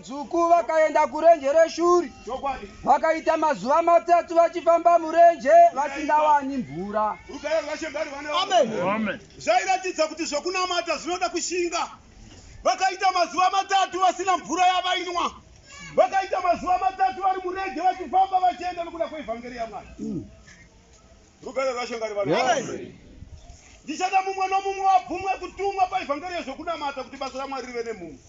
Dzvuku vakaenda kurenje reshuri vakaita mazuva matatu vachifamba murenje vasingawani mvura. Rugare rwaShe ngarwe vana vangu. Zvairatidza kuti zvokunamata zvinoda kushinga. Vakaita mazuva matatu vasina mvura yavainwa. Vakaita mazuva matatu vari murenje vachifamba vachienda nokuda kweevhangeri yaMwari. Rugare rwaShe ngarivane nemi. Ndichada mumwe nomumwe abvumwe kutumwa paivhangeri yezvokunamata kuti basa raMwari rive nemhumhu.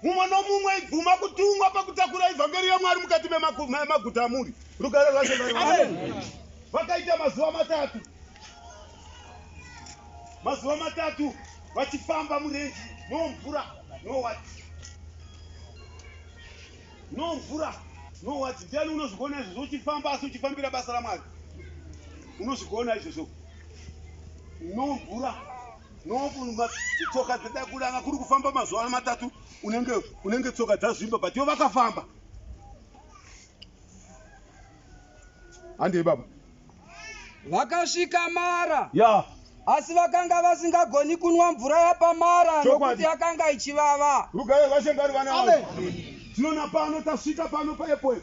Mumwe nomumwe ibvuma kutumwa pakutakura ivhangeri yaMwari mukati memaguta amuri. Rugare rwaShe ngarivane nemi. Vakaita mazuva matatu, mazuva matatu vachifamba murenji nomvura nowati No mvura, no what. Ndiani unozvigona izvozvo uchifamba asi uchifambira basa raMwari? Unozvigona izvozvo. No mvura, no tsoka dzedakura anga kuri kufamba mazuva ano matatu unenge unenge tsoka dzazvimba but yo vakafamba. handei baba vakasvika mara ya asi vakanga vasingagoni kunwa mvura yapamara nokuti yakanga ichivava rugayo vashe ngari vana vavo tinoona pano tasvika pano paepo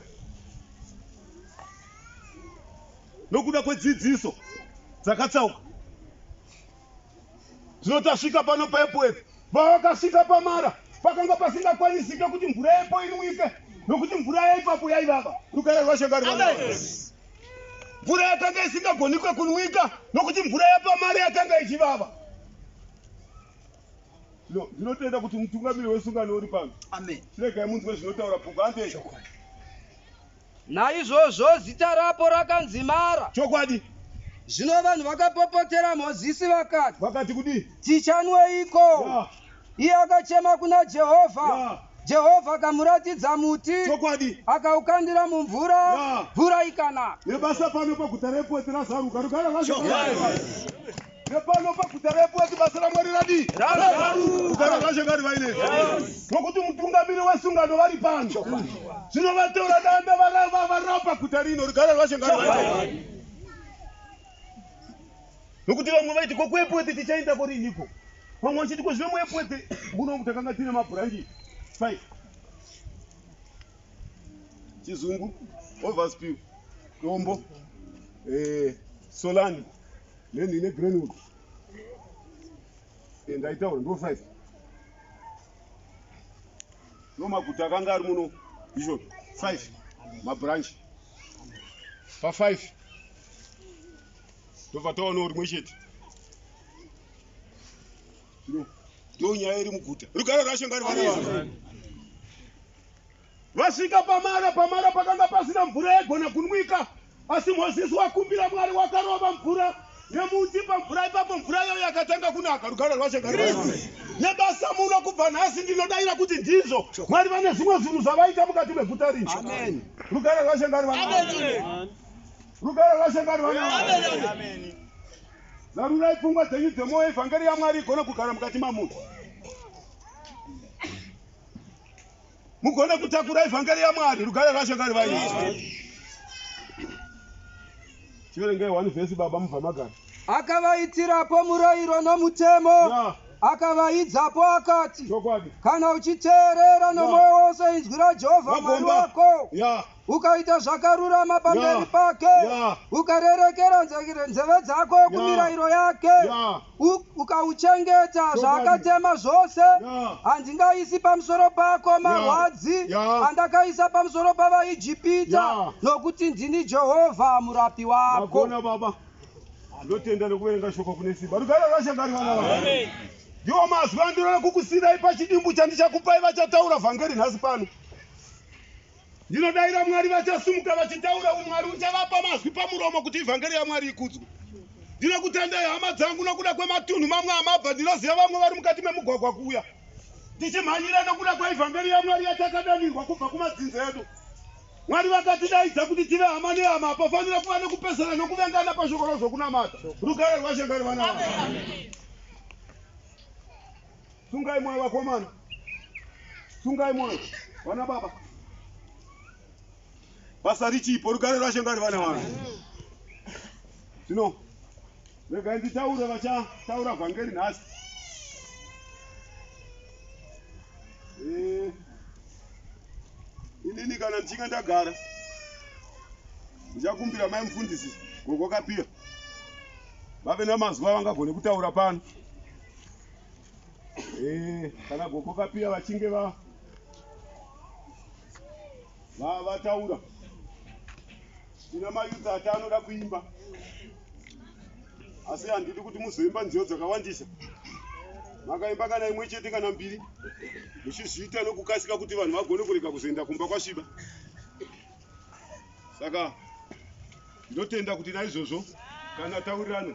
nokuda kwedzidziso dzakatsauka Zvino tasvika pano pepo epo. Pavakasvika pamara, pakanga pasingakwanisike kuti mvura yepo inwike, nokuti mvura yaipapo yaivava. Rugare rwaShe ngaruvave. Mvura yakanga isingagonikwe kunwika, nokuti mvura yapamara yakanga ichivava. No, ndinotenda kuti mutungamiri wesungano uri pano. Amen. Chiregai munzwe zvinotaura bhuku hande. Chokwadi. Naizvozvo zita rapo rakanzi Mara. Chokwadi. Zvino vanhu vakapopotera Mozisi vakati. Vakati kudii? Tichanweiko? Yeah. Iye akachema kuna Jehovha. Yeah. Jehovha akamuratidza muti. Chokwadi. Akaukandira mumvura. Yeah. Mvura ikanaka. Nebasa pano paguta repoti razaruka. Rugare rwacho. Chokwadi. Nepano paguta reEpurati basa raMwari radii? Kugara kwashe ngari vaine nokuti mutungamiri wesungano vari pano zvino vatora danda varapa guta rino rigara rwashe ngari vaine nokuti vamwe vaiti ko kuEpurati tichaenda koriniko vamwe vachiti ko zvino muEpurati kuno takanga tine mabhuranji five chizungu overspill dombo eh, solani Then ine Greenwood. And I told no size. No maguta kanga ari muno bishop five ma branch pa five tobva taonawo rimwe chete ndo nyaya iri muguta rugare rwashe ngari vana vanhu Vasvika pamara, pamara pakanga pasina mvura yaigona kunwika, asi Mozisi wakumbira Mwari wakarova mvura nemuti pamvura ipapo, mvura iyoyo yakatanga kunaka. Rugare rwaShe ngarugare nemi. Nebasa muno kubva nhasi ndinodaira kuti ndizvo Mwari vane zvimwe zvinhu zvavaita mukati meguta rino. Amen. Rugare rwaShe ngaruvane nemi. Rugare rwaShe ngaruvane nemi. Zarurai pfungwa dzenyu dzemwoyo, evhangeri yaMwari igone kugara mukati mamunhu. mugone kutakura evhangeri yamwari rugare rwacho kari vaizwa chiverengei one vhesi baba mubva magara akavaitirapo murayiro nomutemo yeah akavaidzapo akati kana uchiteerera nomwoyo wose inzwi rajehovha mwari wako ukaita zvakarurama pamberi pake ukarerekera nzeve dzako kumirayiro yake ukauchengeta zvaakatema zvose handingaisi pamusoro pako marwadzi andakaisa pamusoro pavaijipita nokuti ndini jehovha murapi wako ndotenda nekuverenga shoko kune simba rugare rwashangari vana va ndiwo mazwi andinoda kukusirai pachidimbu chandichakupai vachataura vhangeri nhasi pano Ndinodaira Mwari vachasumuka vachitaura umwari uchavapa mazwi pamuromo kuti ivhangeri yaMwari ikudzwe. Ndinokutendai hama dzangu nokuda kwematunhu mamwe amabva ndinoziva vamwe vari mukati memugwagwa kuuya tichimhanyira nokuda kwaivhangeri yaMwari yatakadanirwa kubva kumadzinza edu. Mwari vakatidaidza kuti tive hama nehama hapafanira kuva nekupesana nokuvengana pashoko razvokunamata. Rugare rwashe ngari vana vavo. Sungai moyo vakomana. Sungai moyo. Vana baba. Basa richipo rugare rwashe ngari vana vanhu. Zvino regai nditaure vachataura vhangeri nhasi. Eh. Inini kana ndichinge ndagara ndichakumbira mai mufundisi gogo kapira vave namazuva vangagone kutaura pano Eh, kana gogo kapiya vachinge va va vataura tina mayuti ati anoda kuimba asi handidi kuti muzoimba nziyo dzakawandisa makaimba kana imwe chete kana mbiri muchizviita nokukasika kuti vanhu vagone kurega kuzoenda kumba kwasviba saka ndotenda kuti naizvozvo kana taurirano